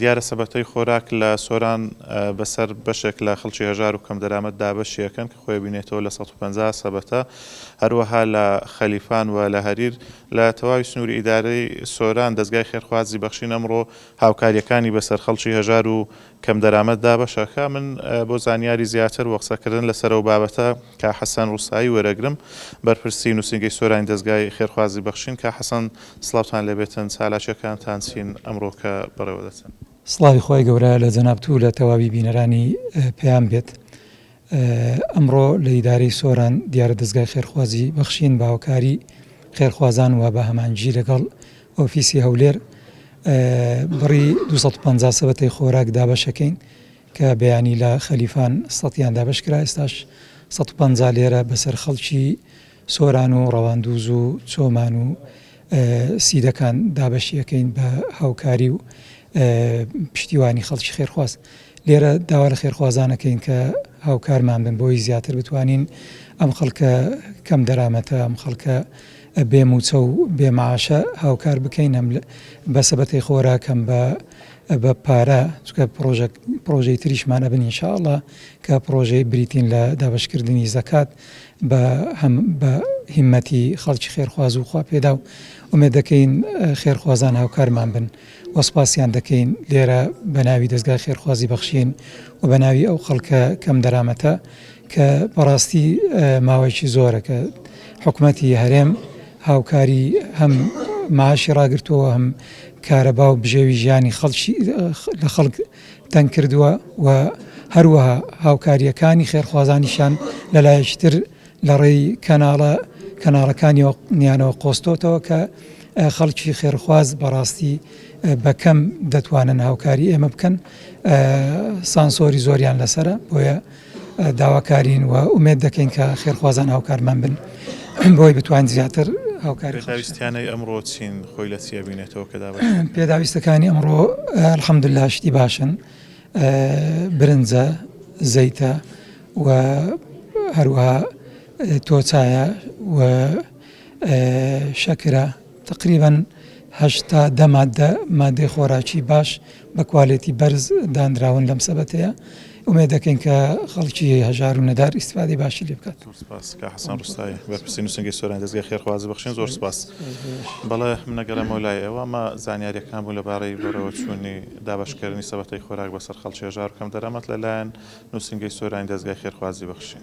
دیارە سەبەتەی خۆراک لە سۆران بەسەر بەشێک لە خەڵکی هەژار و کەمدەرامەت دابەشی ئەکەن کە خۆی ئەبینێتەوە لە سەد و پەنجا سەبەتە، هەروەها لە خەلیفان و لە هەریر لە تەواوی سنووری ئیدارەی سۆران دەزگای خێرخوازی بەخشین ئەمڕۆ هاوکارییەکانی بەسەر خەڵکی هەژار و کەم دەرامەت دابەش ئەکا من بۆ زانیاری زیاتر و قسە کردن لە سەرەو بابەتە کا حەسەن ڕوسایی وەرەگرم بەرپرسی نوسینگەی سۆرانی دەزگای خێرخوازی بەخشین کا حەسەن سڵاوتان لێبێتن چالاکیەکانتان چین ئەمڕۆ کە بەڕێوە دەچن. سڵاوی خوای گەورە لە جەنابت و لە تەواوی بینەرانی پەیام بێت. ئەمڕۆ لە ئیدارەی سۆران دیارە دەزگای خێرخوازی بەخشین بە هاوکاری خێرخوازان و بە هەمانجی لەگەڵ ئۆفیسی هەولێر بڕی دوو سەد و پەنجا سەبەتەی خۆراک دابەشەکەین کە بەیانی لە خەلیفان سەتیان دابەشکرا ئێستاش سەد و پەنجا لێرە بەسەر خەڵکی سۆران و ڕەواندوز و چۆمان و سیدەکان دابەشیەکەین بە هاوکاری و پشتیوانی خەڵکی خێرخواز لێرە داوا لە خێرخوازانەکەین کە هاوکارمان بن بۆی زیاتر بتوانین ئەم خەڵکە کەم دەرامەتە ئەم خەڵکە بێ موچە و بێ معاشە هاوکار بکەین هەم بە سەبەتی خۆراکەم بە بە پارە چکە پرۆژەی تریشمانە بن انشاءله کە پرۆژەی بریتین لە دابشکردنی زەکات بە هەم بە هیمەتی خەڵکی خێرخواز و خواپێداو ئومێد دەکەین خێرخوازان هاوکارمان بن و سپاسیان دەکەین لێرە بە ناوی دەستگای خێرخوازی بەخشین و بە ناوی ئەو خەڵکە کەم دەرامەتە کە بەڕاستی ماوەیەکی زۆرە کە حکومەتی هەرێم هاوکاری هەم معاشی ڕاگرتووە هەم کارەبا و بژێوی ژیانی خەڵکی لە خەڵک تەنگ کردووە و هەروەها هاوکارییەکانی خێرخوازانیشیان لە لایەکی تر لە ڕێی کەناڵە کەناڵەکانیەوە نیانەوە قۆستۆتەوە کە خەڵکی خێرخواز بەڕاستی بە کەم دەتوانن هاوکاری ئێمە بکەن سانسۆری زۆریان لەسرە بۆیە داواکارین و ئومێد دەکەین کە خێرخوازان هاوکارمان بن بۆی بتوانین زیاتر هاوکاری خەڵکی پێداویستیانەی ئەمڕۆ چین خۆی لە چی ئەبینێتەوە کە دابەش دەکرێت؟ پێداویستەکانی ئەمڕۆ الحمدللە شتی باشن برنجە زەیتە و هەروەها تۆ چایە و شەکرە. تەقریبەن هەشت تا دە ماددە مادەی خۆراکی باش بە کوالێتی بەرز دانراون لەم سەبەتەیە ئومێ دەکەین کە خەڵکی هەژار و نەدار ئیسفادی باشی لێ بکات حسان ڕستایی بەپرسی نووسنگی سۆران دەستگای خێرخوازی بەخشین زۆر سپاس بەڵێ منەگەرەمەوە لای ئێوە مە زانیاریەکان بوو لەبارەی بەرەوە چوونی دابشکردنی سەبەتەی خۆراک بەسەر خەڵکی هەژار کەم دەرەمەت لەلایەن نووسنگی سۆرانی دەستگای خێرخوازی بەخشین